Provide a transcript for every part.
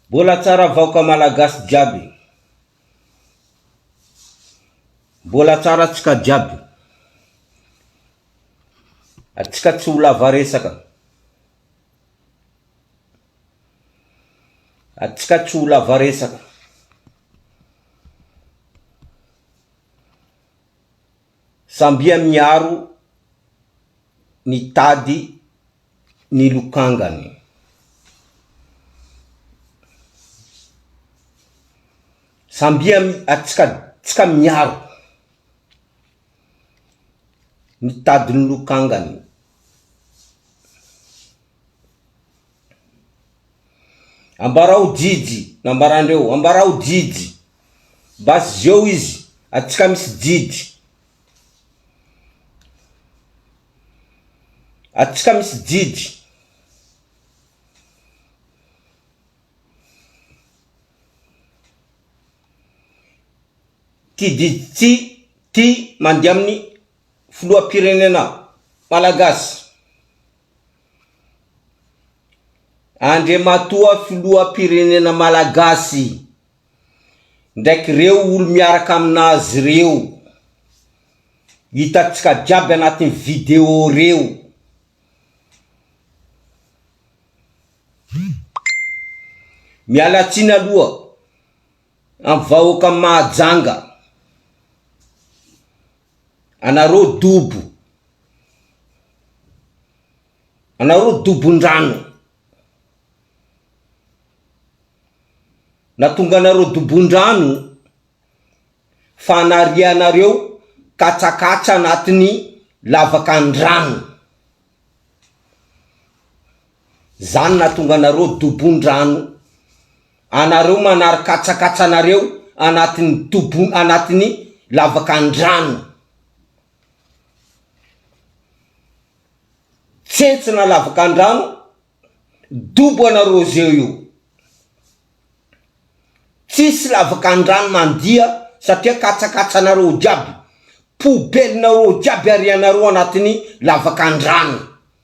Mbola tsara vaoka malagasy jiaby. Mbola tsara atsika jiaby. Atsika tsy ho lava resaka. Atsika tsy ho lava resaka. Zambia miaro ny tady ny lokangany. Zambia tsika miaro ny tady ny lokangany. Ambarao jijy, nambarandreo, ambarao jijy. Basy zeo izy, aty ka misy jijy. Aty ka misy jijy. Ty jijy ty, ty mandiha amin'ny filoham-pirenena malagasy. Andriamatoa Filoham-pirenena Malagasy ndraiky ireo olo miaraka aminazy ireo, hitantsika jiaby anatin'ny video reo, miala tsiny aloha amin'ny vahoakan'i Mahajanga. Anareo dobo. Anareo dobon-drano. Nahatonga anareo dobon-drano fa anarianareo katsakatsa anatin'ny lavakan-drano. Zany nahatonga anareo dobon-drano. anareo manary katsakatsa anareo anatin'ny tobo anatin'ny lavaka andrano tsentsina lavaka andrano dobo anareo zeo io tsisy lavaka andrano mandia satria katsakatsa anareo jiaby poubelle nareo jiaby arianareo anatin'ny lavaka andrano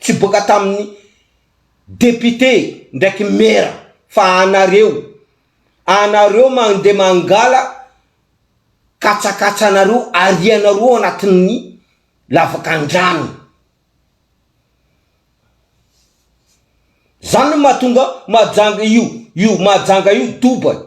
tsy boaka tamin'ny député ndraiky maire fa anareo, anareo mandeha mangala katsakatsanareo arianareo ao anatin'ny lavakandrano. Zany no mahatonga Mahajanga io io Mahajanga io doba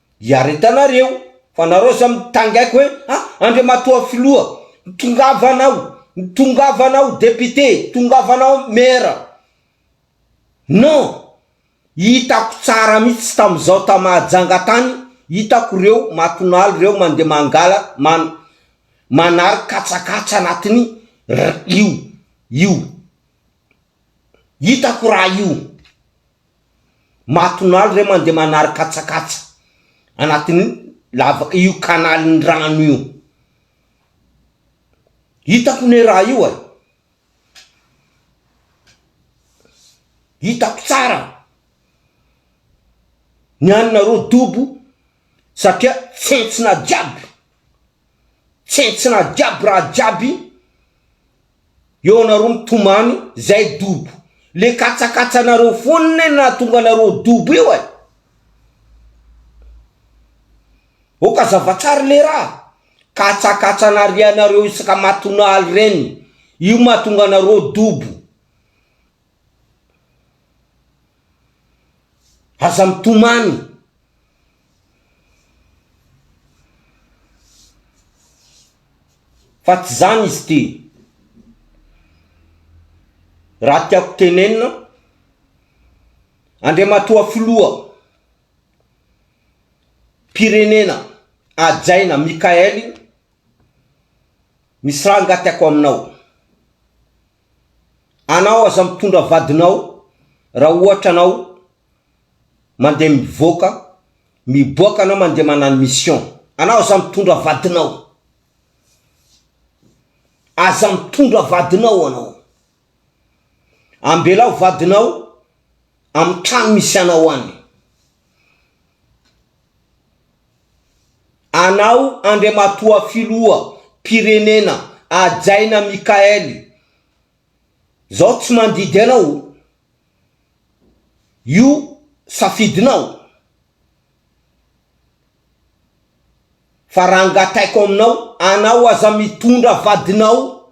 Iaretanareo fa nareo zao mitangaiko hoe a Andriamatoa Filoha tongava anao, tongava anao Député, tongava anao Maire. Non, hitako tsara mihitsy tamizao ta Mahajanga tany hitako reo Matonalo reo mandeha mangala man manary katsakatsa anatiny io io Hitako raha io. Matonalo re mandeha manary katsakatsa anatin'ny lava io kanalin'ny rano io. Hitako ne raha io e. Hitako tsara. Ny anareo dobo satria tsentsina jiaby. Tsentsina jiaby raha jiaby. Eo anareo mitomany zay dobo. Le katsakatsanareo foana no nahatonga anareo ho dobo io eh. Ok azava tsara le raha. Katsakatsa narianareo isaka matonaly reny. Io mahatonga anareo dobo. Aza mitomany. Fa tsy izany izy ity. Raha tiako tenenina, Andriamatoa Filoha mpirenena hajaina Mickaël, misy raha angaha tiako aminao. Anao aza mitondra vadinao raha ohatra anao mandeha mivoaka miboaka anao mandeha manano mission anao aza mitondra vadinao aza mitondra vadinao anao ambelao vadinao amy trano misy anao any anao andriamatoa filoha pirenena ajaina mikaely zao tsy mandidy anao Io safidinao fa raha angataiko aminao anao aza mitondra vadinao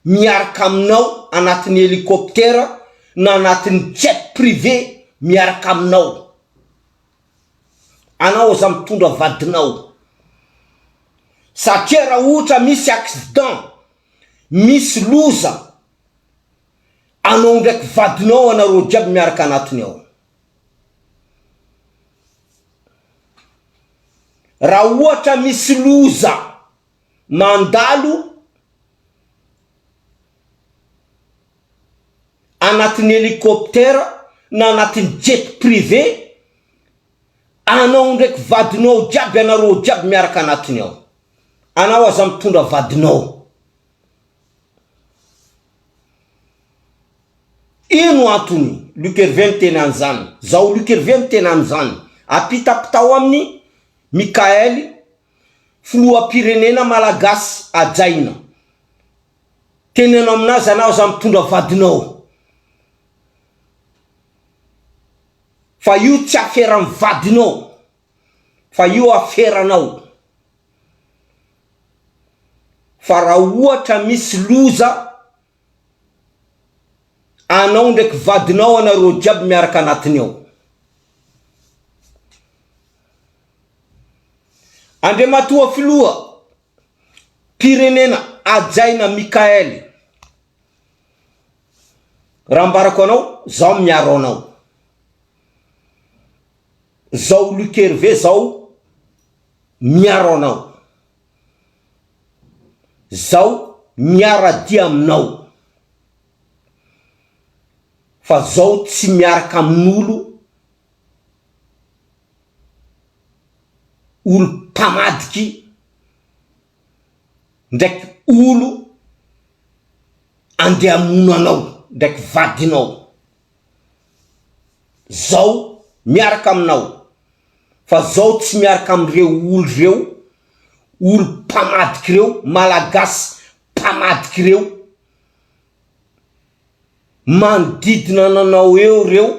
miaraka aminao anatin'ny helicoptère na anatin'ny jet privé miaraka aminao anao aza mitondra vadinao satria raha ohatra misy accident Misy loza anao ndraiky vadinao anareo jiaby miaraka anatiny ao. Ra ohatra misy loza mandalo anatiny helicoptère na anatiny jet privé, Anao ndraiky vadinao ao jiaby anareo ao jiaby miaraka anatiny ao. Anao aza mitondra vadinao. Ino antony Luc Hervé miteny anzany? Zao Luc Hervé miteny anzany. Apitapitao aminy Mickaël filohampirenena malagasy hajaina. Teneno aminazy anao aza mitondra vadinao. Fa io tsy aferan'ny vadinao fa io aferanao. Fa raha ohatra misy loza anao ndraiky vadinao anareo jiaby miaraka anatiny ao. Andriamatoa Filoha mpirenena hajaina Mickael. Raha ambarako anao, zaho miaro anao. Zao Luc Hervé zao miaro anao. Zaho miara-dia aminao. Fa zaho tsy miaraka amin'olo olo-pamadiky ndraiky olo andeha hamono anao ndraiky vadinao zao miaraka aminao fa zao tsy miaraka amreo olo reo olo mpamadiky reo malagasy mpamadiky reo manodidina ananao eo reo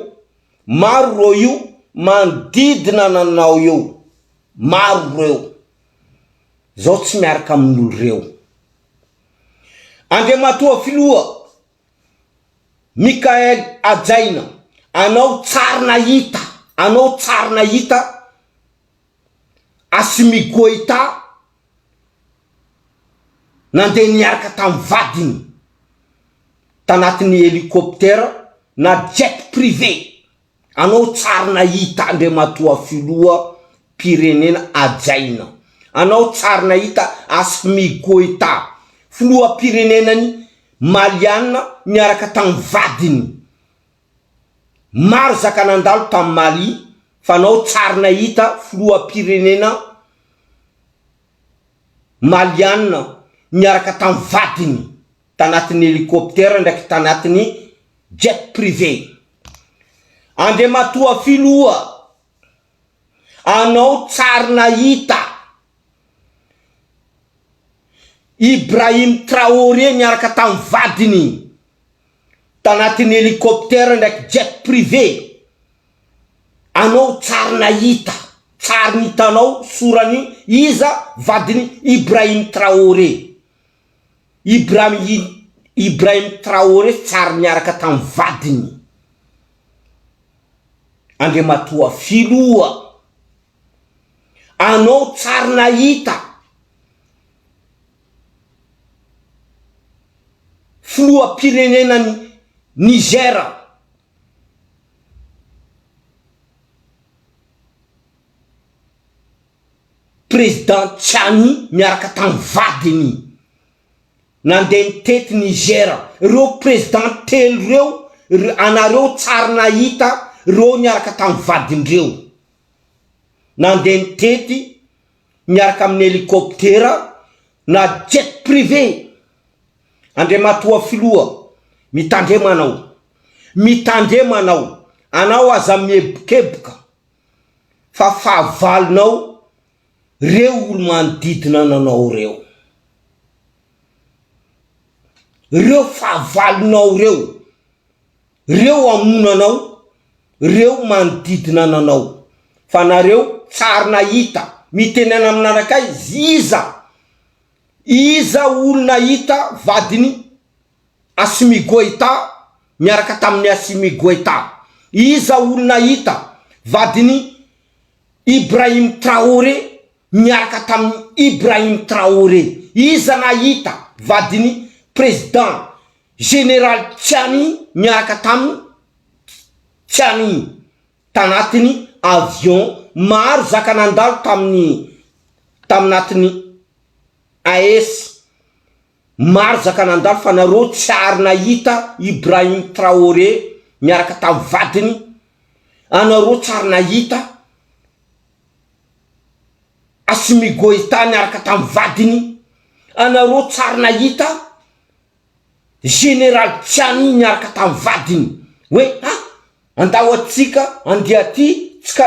maro ro io manodidina ananao eo maro reo. Zaho tsy miaraka amin'olo reo. Andriamatoa Filoha Michael hajaina anao tsar nahita anao tsar nahita Assimi Goita nandeha niaraka tamin'ny vadiny tanatin'ny helicoptère na jet privé Anao tsary nahita Andriamatoa Filoha mpirenena hajaina. Anao tsary nahita Assmi Goita, Filoham-pirenenany Maliana niaraka tamin'ny vadiny. Maro zaka nandalo tamin'ny Mali fa anao tsary nahita Filoham-pirenena Maliana niaraka tamin'ny vadiny. tanatin'ny helicoptère ndraiky tanatin'ny jet privé. Andriamatoa Filoha, anao tsary nahita Ibrahim Traoré niaraka tamin'ny vadiny tanatin'ny helicoptère ndraiky jet privé, anao tsary nahita, tsary nitanao soran'i iza vadin'i Ibrahim Traoré. Ibrahim Ly Ibrahim Traoré tsary niaraka tamin'ny vadiny, Andriamatoa Filoha, anao tsary nahita Filoham-pirenenan'i Niger. President Tchiani miaraka tamin'ny vadiny nandeha nitety Niger. Ireo President telo ireo anareo tsary nahita ireo niaraka tamin'ny vadindreo nandeha nitety miaraka amin'ny helicoptera na jet privé. Andriamatoa Filoha, mitandrema anao. Mitandrema anao. Anao aza miebonkeboka fa fahavalonao reo olo manodidina ananao reo. Reo fahavalonao reo, reo amono anao, reo manodidina ananao. Fa nareo tsary nahita, mitenena amin'anakaizy iza? Iza olo nahita vadiny? Assimi Goïta miaraka tamin'i Assimi Goïta. Iza olona hita? Vadin'i Ibrahim Traoré miaraka tamin'i Ibrahim Traoré. Iza nahita vadin'i Président Général Tchiani miaraka tamin'i Tchiani tanatin'ny avion? Maro zaka nandalo tamin'ny taminatin'ny AES. Marzaka nandalo fa nareo tsy ary nahita Ibrahim Traoré miaraka tamin'ny vadiny, anareo tsy ary nahita Assimi Goïta niaraka tamin'ny vadiny, anareo tsy ary nahita Général Tchiani niaraka tamin'ny vadiny hoe ha andao aty ka andeha aty tsy ka.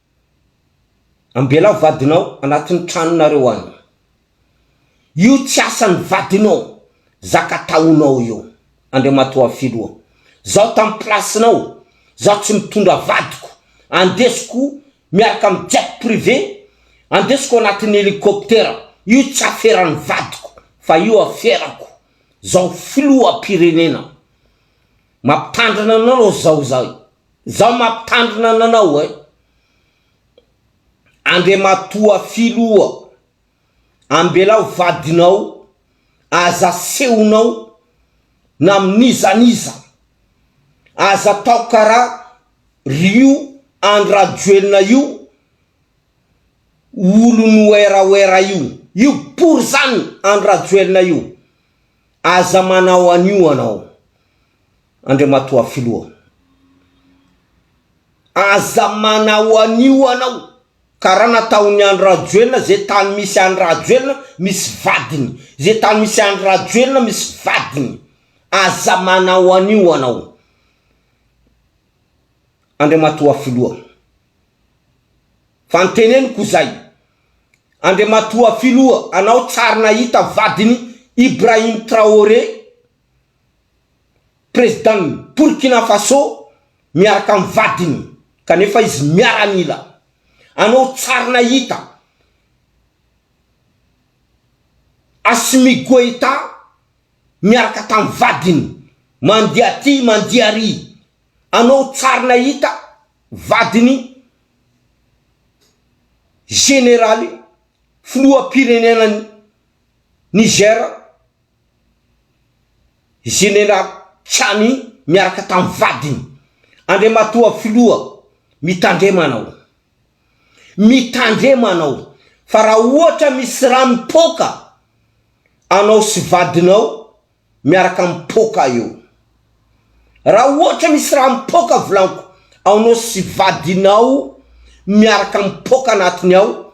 Ambelao vadinao anatiny tranonareo any. Io tsy asany vadinao zaka ataonao io. Andriamatoa Filoha. Zaho tam place nao zaho tsy mitondra vadiko andesiko miaraka am jet privé andesiko anatiny helicoptera io tsy aferany vadiko fa io aferako zaho Filoha am pirenena. Mampitandrina anao zaho zay. Zao mampitandrina ananao eh. Andriamatoa Filoha, ambelao vadinao, aza asehonao na amin'iza n'iza. Aza atao karaha r'io Andry Rajoelina io olon'i werawera io. Io pory zany Andry Rajoelina io. Aza manao an'io anao. Andriamatoa Filoha, aza manao an'io anao, karaha nataon'i Andry Rajoelina, ze tany misy Andry Rajoelina misy vadiny, ze tany misy Andry Rajoelina misy vadiny, aza manao an'io anao Andriamatoa Filoha, fa ny teneniko zay, Andriamatoa Filoha, anao tsary nahita vadiny Ibrahim Traoré Prezidan'i Burkina Faso miaraka amin'ny vadiny kanefa izy miaramila. Anao tsary nahita Assimi Goita miaraka tamin'ny vadiny mandeha aty mandeha ary. Anao tsary nahita vadin'i Generaly filoham-pirenenan'i Niger. Jeneraly Tchani miaraka tamin'ny vadiny. Andriamatoa Filoha, mitandrema anao. Mitandrema anao fa raha ohatra misy rà mipoaka anao sy vadinao miaraka mipoaka eo. Raha ohatra misy rà mipoaka volaniko anao sy vadinao miaraka mipoaka anatiny ao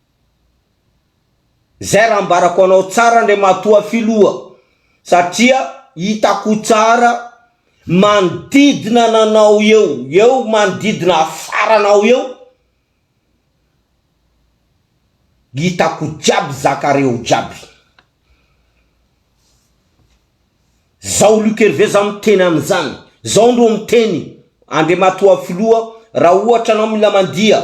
Zay raha ambarako anao tsara Andriamatoa Filoha satria hitako tsara manodidina ananao eo eo manodidina afaranao eo hitako jiaby zakareo jiaby zao Luc Hervé zao miteny an'izany zao ndro miteny Andriamatoa Filoha raha ohatra anao mila mandia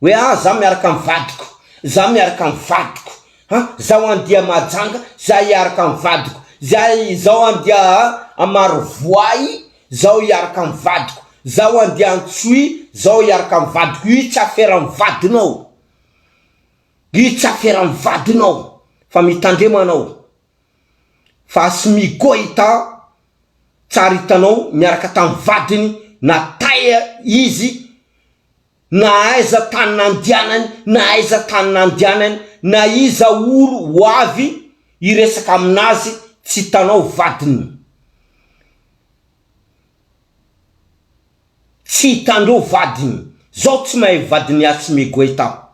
Hoe ah za miaraka am vadiko, za miaraka am vadiko ah, zaho an dia mahajanga, za hiaraka am vadiko, za izao an dia a Marovoay, zaho hiaraka am vadiko, zaho an dia Antsohihy, zaho hiaraka am vadiko, io tsy afera am vadinao, io tsy afera am vadinao fa mitandrema anao fa sy migoita tsara hitanao miaraka tam vadiny na taiza izy, Na aiza tany nandianany na aiza tany nandianany na iza ory ho avy hiresaka aminazy tsy hitanao vadiny tsy hitandreo vadiny zao tsy mahay vadiny Hatsime Goita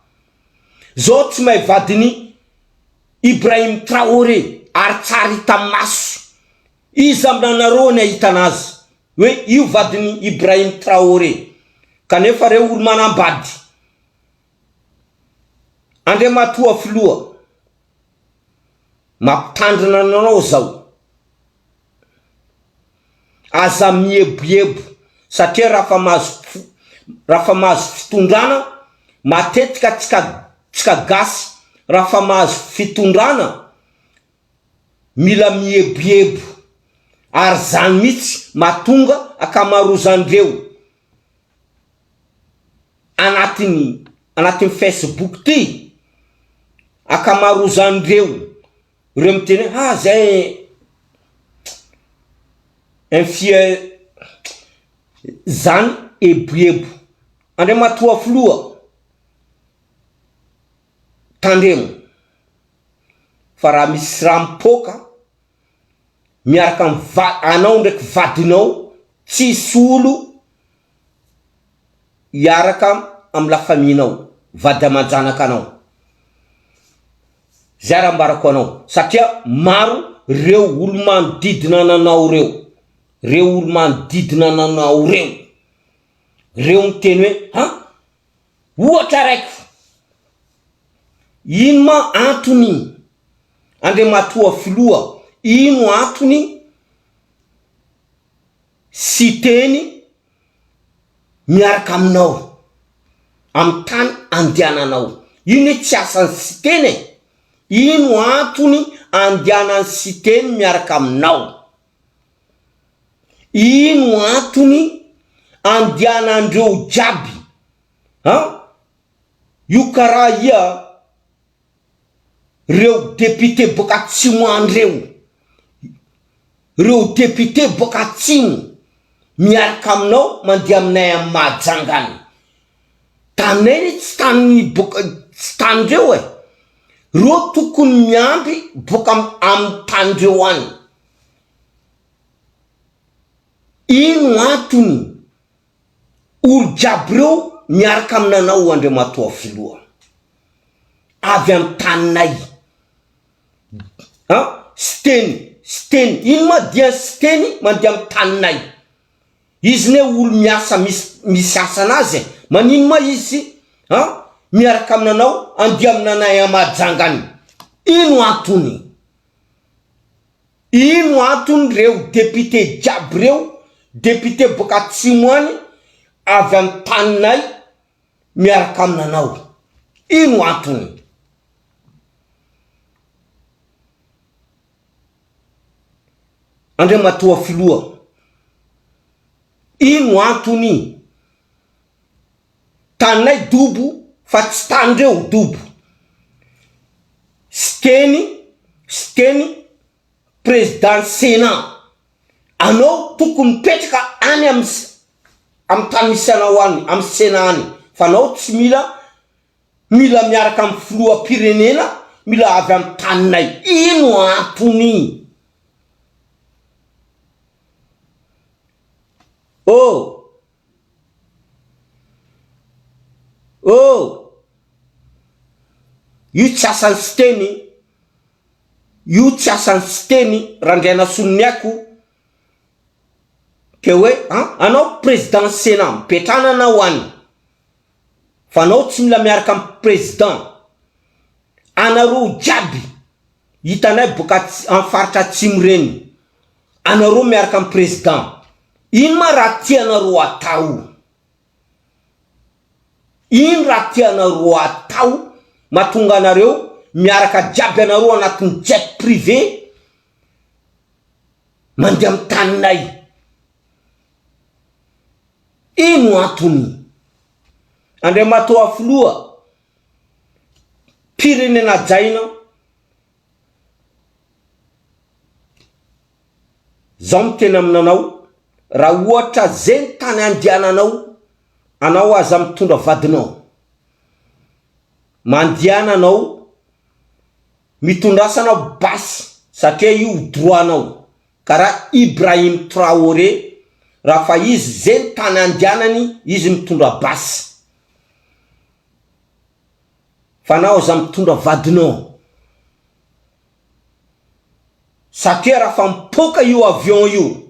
zao tsy mahay vadiny Ibrahim Traore ary tsara hita maso Iza aminanareo ny ahitana azy hoe io vadin'i Ibrahim Traoré? Kanefa reo olo manambady Andriamatoa Filoha mampitandrina anareo zao, aza mieboebo satria rafa mahazo rafa mahazo fitondrana matetika tsika tsika gasy rafa mahazo fitondrana mila mieboebo ary zany mitsy matonga akamarozandreo anatiny anatiny Facebook ty akamarozandreo reo miteny hoe ah zay infia zany eboebo andriamatoa filoha tandremo. fa raha misy rà mipoaka miaraka am va anao ndraiky vadinao tsisy olo hiaraka am la famille nao vady amanjanaka anao zay raha ambarako anao satria maro reo olo manodidina ananao reo reo olo manodidina ananao reo reo miteny hoe ha Ohatra raiko, ino ma antony Andriamatoa Filoha, ino antony Siteny miaraka aminao amin'ny tany andehananao? Ino hoe tsy asan'ny Siteny e? Ino antony andehanan'ny Siteny miaraka aminao? Ino antony andianandreo jiaby an! Io karaha ia reo député boaka atsimo an reo, reo député boaka atsimo miaraka aminao mandeha aminay am Mahajanga any, taninay re tsy tany boaka tsy tanindreo e, reo tokony miandry boaka am tanindreo any. Ino antony? Olo jiaby reo miaraka aminanao Andriamatoa Filoha. Avy am taninay. An? Siteny, Siteny, ino ma dian Siteny mandeha am taninay? Izy ne olo miasa misy misy asanaz e, manino ma izy an miaraka aminanao andeha aminanay am Majanga any? Ino antony? Ino antony reo député jiaby reo, député boaka atsimo any, avy am taninay miaraka aminanao? Ino antony? Andriamatoa Filoha, ino antony? taninay dobo fa tsy tanin-dreo dobo. Siteny, Siteny, Président Sénat, anao tokony mipetraka any amin'ny amin'ny tany misy anao any, amin'ny Sénat any, fa anao tsy mila mila miaraka amin'ny Filoham-pirenena, mila avy amin'ny taninay. Ino antony? Oh! Oh! Io tsy asan'i Siteny, io tsy asan'i Siteny, Randrianasoloniaiko, ke hoe an, anao président Sénat, mipetrana anao any, fa anao tsy mila miaraka amin'ny président, anareo jiaby hitanay boka ats, amin'ny faritra atsimo ireny, anareo miaraka am président ino ma raha tianareo atao ino raha tianareo atao matonga anareo miaraka jiaby anareo anatiny jet privé mandeha am taninay ino antony andriamatoa filoha pirenena jaina Zao miteny aminanao raha ohatra zegny tany andiananao anao aza mitondra vadinao mandiana anao mitondrasa anao basy satria io droit nao kara Ibrahim Traoré raha fa izy zegny tany andianany izy mitondra basy. fa nao aza mitondra vadinao satria raha fa mipoaka io avion io,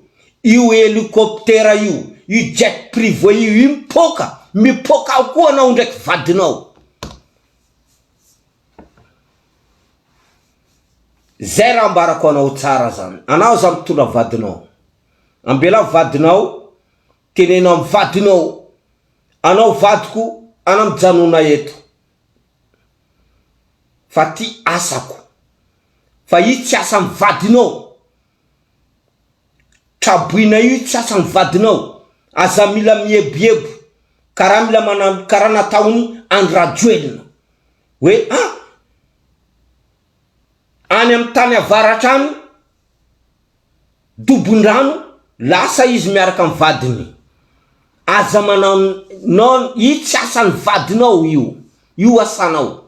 io helicoptera io, io jet privé io io mipoaka, mipoaka ao koa anao ndraiky vadinao. Zay raha ambarako anao tsara zany, anao aza mitondra vadinao, ambelao vadinao Teneno amin'ny vadinao, anao vadiko ana mijanona eto fa ty asako fa io tsy asan'ny vadinao, traboina io tsy asan'ny vadinao, aza mila mieboebo karaha mila manano karaha nataon'i Andry Rajoelina hoe a! any amin'ny tany avaratra any Dobondrano lasa izy miaraka amin'ny vadiny aza manao non io tsy asan'ny vadinao io io asanao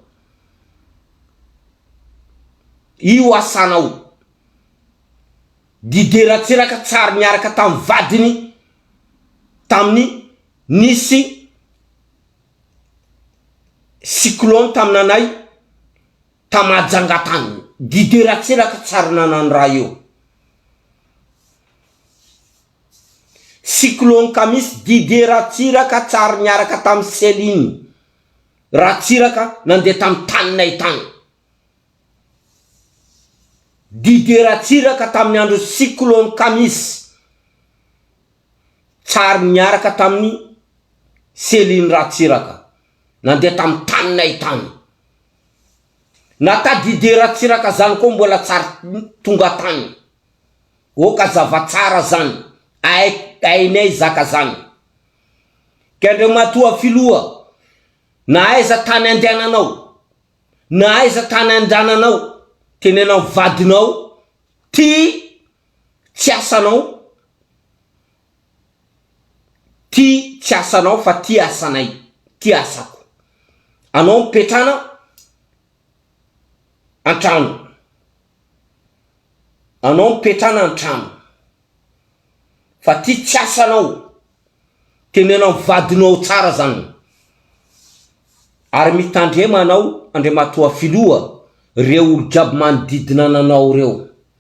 io asanao Didier Ratsiraka tsy ary niaraka tamin'ny vadiny tamin'ny nisy Cyclone taminanay ta Majanga tany. Guide Ratselaka tsary nanano raha eo. Cyclone Kamisy Didier Ratsiraka tsary niaraka tamin'i Céline Ratsiraka nandeha tamin'ny taninay tany. Didier Ratsiraka tamin'ny andron'ny cyclone Kamisy. tsary niaraka tamin'i Céline Ratsiraka nandeha tamin'ny taninay tany. Na Tadidé Ratsiraka zany koa mbola tsy ary tonga tany. Oh ka zava tsara zany, ay ainay zaka zany. Ka Andriamatoa Filoha, na aiza tany andehananao, na aiza tany andrananao, tenenao vadinao, ty tsy asanao ty tsy asanao fa ty asanay ty asako anao mipetrana antrano anao mipetrana antrano fa ty tsy asanao tenenao am vadinao tsara zany ary mitandrema anao andriamatoa filoha reo olo jiaby manodidina ananao reo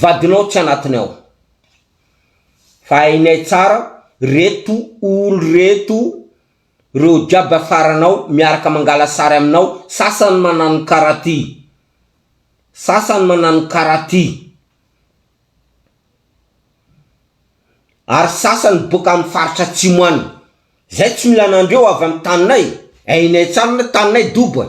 vadinao tsy anatiny ao. Fa hainay tsara reto olo reto reo jiaby afaranao miaraka mangala sary aminao sasany manano kara ty sasany manano kara ty ary sasany boka am faritra atsimo any zay tsy mila anandreo avy am taninay hainay tsara le taninay dobo e.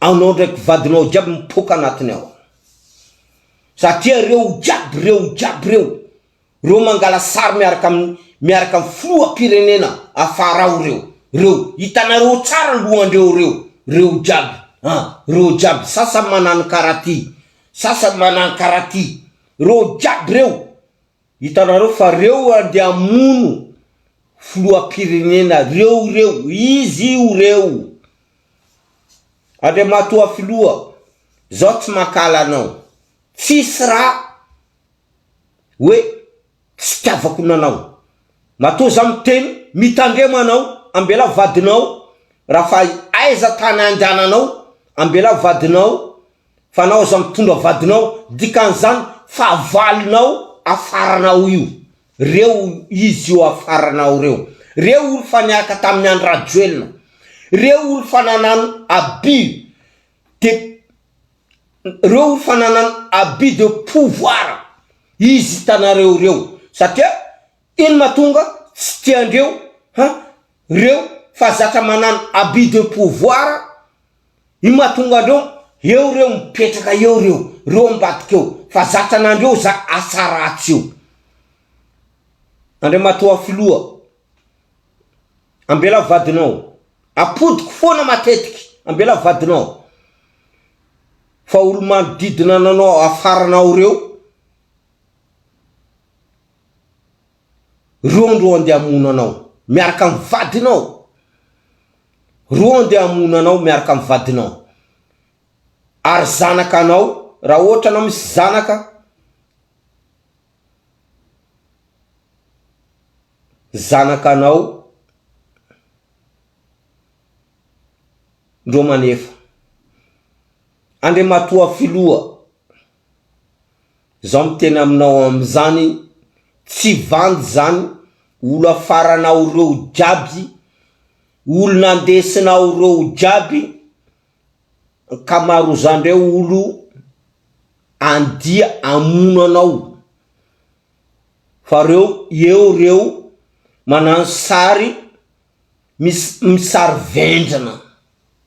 Anao ndraiky vadinao jiaby mipoaka anatiny ao. Satria reo jiaby reo jiaby reo, reo mangala sary miaraka aminy miaraka aminy filoha pirenena afara ao reo, reo hitanareo tsara ny lohandreo reo, reo jiaby an, reo jiaby sasany manany karaty, sasany manany karaty, reo jiaby reo. Hitanareo fa reo andeha hamono filohampirenena reo reo izy io reo Andriamatoa filoha zaho tsy mankahala anao tsisy raha hoe tsy itiavako nanao matoa zaho miteny mitandrema anao ambela vadinao raha fa aiza tany andehananao ambela vadinao fa anao aza mitondra vadinao dikan'izany fahavalonao afaranao io reo izy io afaranao reo reo olo fa niaraka tamin'ny Andry Rajoelina reo olo fa nanano abus de reo olo fa nanano abus de pouvoir izy hitanareo reo satria ino matonga tsy tiandreo an reo fa zatra manano abus de pouvoir Ino mahatonga andreo eo reo mipetraka eo reo reo ambadika eo fa zatra nandreo za asa ratsy io Andriamatoa Filoha ambela vadinao apodiko foana matetiky ambela vadinao fa olo manodidina ananao afaranao reo Rondo andeha hamono anao miaraka amin'ny vadinao Rondo andeha hamono anao miaraka amin'ny vadinao Ary zanaka anao raha ohatra anao misy zanaka Zanaka anao Ndro manefa Andriamatoa Filoha Zaho miteny aminao amizany tsy vandy zany olo afaranao reo jiaby olo nandesinao reo jiaby ankamarozandreo olo andia amono anao fa reo eo reo manano sary misy sary vendrana.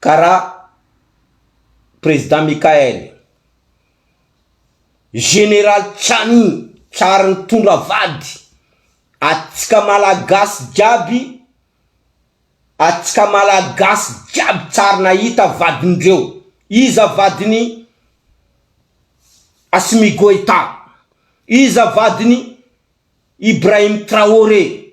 kara Président Michaël, Général Tchani tsary nitondra vady, atsika Malagasy jiaby, atsika Malagasy jiaby tsary nahita vadindreo, iza vadiny Assimi Goïta, iza vadiny Ibrahim Traoré,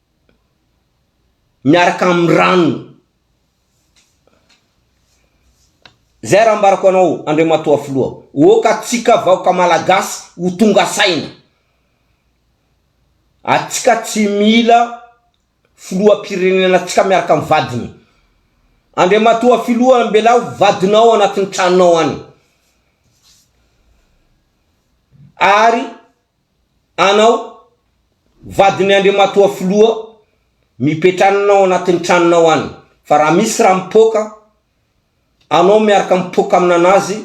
miaraka amin'ny rano. Zay raha ambarako anao Andriamatoa Filoha, oka atsika vahoka Malagasy ho tonga saina. Atsika tsy mila Filoham-pirenena atsika miaraka amin'ny vadiny. Andriamatoa Filoha ambelaho vadinao anatin'ny tranonao any. Ary. Anao, vadin'i Andriamatoa Filoha, mipetranina ao anatin'ny tranonao any, fa raha misy raha mipoaka, anao miaraka mipoaka aminanazy,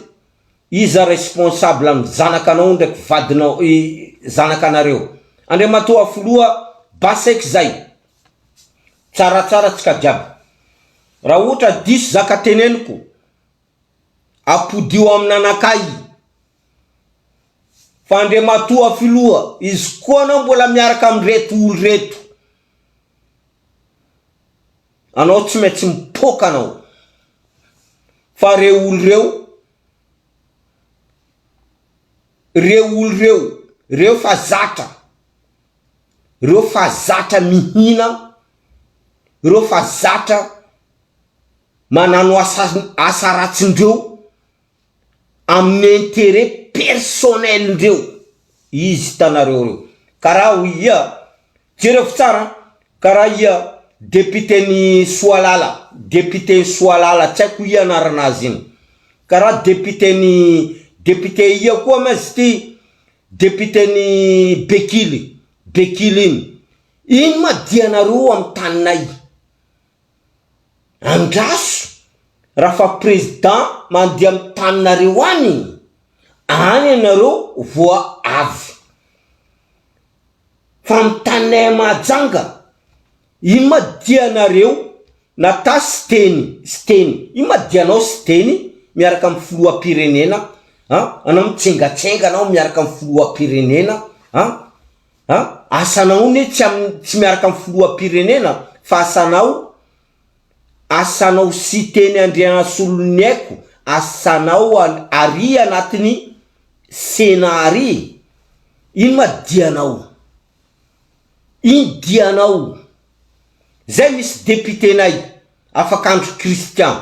iza responsable ny zanaka anao ndraiky vadinao, zanaka anareo. Andriamatoa Filoha, base eky zay. Tsaratsara tsika jiaby. Raha ohatra diso zaka teneniko, apodio aminanakahy Fa Andriamatoa Filoha, izy koa anao mbola miaraka amin'ireto olo ireto. Anao tsy maintsy mipoaka anao. Fa ireo olo ireo, ireo olo ireo, ireo fa zatra, ireo fa zatra mihina, ireo fa zatra manano asa asa ratsindreo. amin'ny interet personnel ndreo izy hitanareo reo karaha ho ia jereo fa tsara an karaha ia député ny soalala député ny soalala tsy aiko ia anarana azy iny karaha député ny député ia koa ma izy ty député ny bekily bekily iny iny ma dianareo amin'ny taninay Andraso raha fa président mandeha amin'ny taninareo any iny, any ianareo vao avy fa amin'ny taninay à Mahajanga iny ma dia nareo nata siteny siteny iny ma dia anao siteny miaraka amin'ny filoham-pirenena an, anao mitsengatsenga anao miaraka amin'ny filoham-pirenena an. A, asanao ne tsy am tsy miaraka am filohampirenena fa asanao asanao Siteny Andrianasolony aiko asanao an ary anatiny Sénat ary ino ma dianao ino dianao zay misy Député-nay Afakandro Christian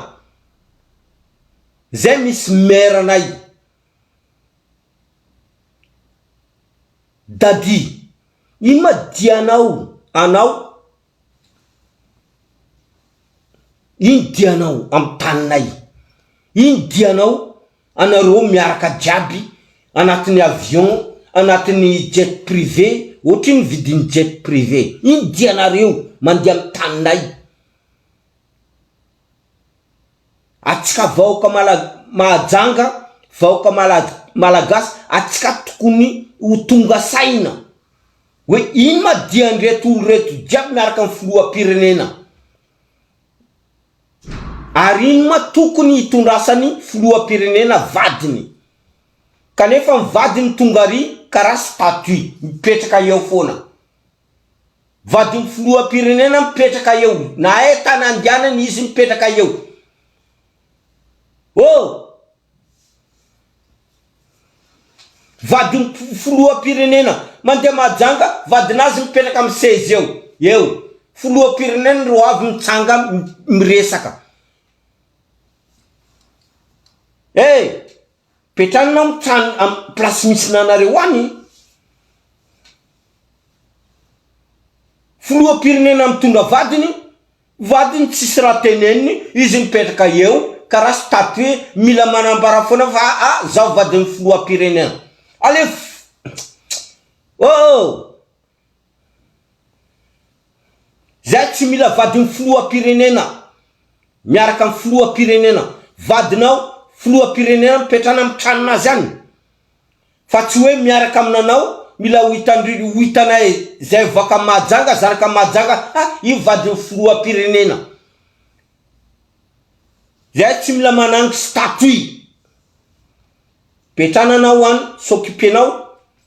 zay misy Maire-nay Daddy, ino ma dianao anao? Ino dianao amin'ny taninay? Ino dianao anareo miaraka jiaby anatin'ny avion, anatin'ny jet privé, ohatry ny vidin'ny jet privé? Ino dianareo mandeha amin'ny taninay? Atsika vahoka Mala Mahajanga vahoka Mala Malagasy atsika tokony ho tonga saina hoe ino ma dian'ireto olo reto jiaby miaraka am filohampirenena ary ino ma tokony hitondrasany filohampirenena vadiny kanefa ny vadiny tonga ary karaha statut mipetraka eo foana. Vadin'ny filoham-pirenena mipetraka eo na hay tana andianany izy mipetraka eo oh! Vadin'ny filoham-pirenena mandeha majanga vadin'azy mipetraka amin'ny seza eo eo! Filoham-pirenena ro avy mitsanga miresaka eh! Petrany nao tany am place misy nanareo any. Filoha pirenena mitondra vadiny, vadiny tsisy raha teneniny izy mipetraka eo karaha statue mila manambara foana fa aa zaho vadin'ny filoha pirenena. Aleo oh oh. Zay tsy mila vadiny filoham-pirenena miaraka amin'ny filoham-pirenena vadinao filoham-pirenena mipetrana amin'ny tranon'azy any fa tsy hoe miaraka aminanao mila ho hitandri ho hitanay zay vaoka Mahajanga zanaka Mahajanga ha io vadiny filoham-pirenena zay tsy mila manangy statut ipetrana anao any s'occuper-nao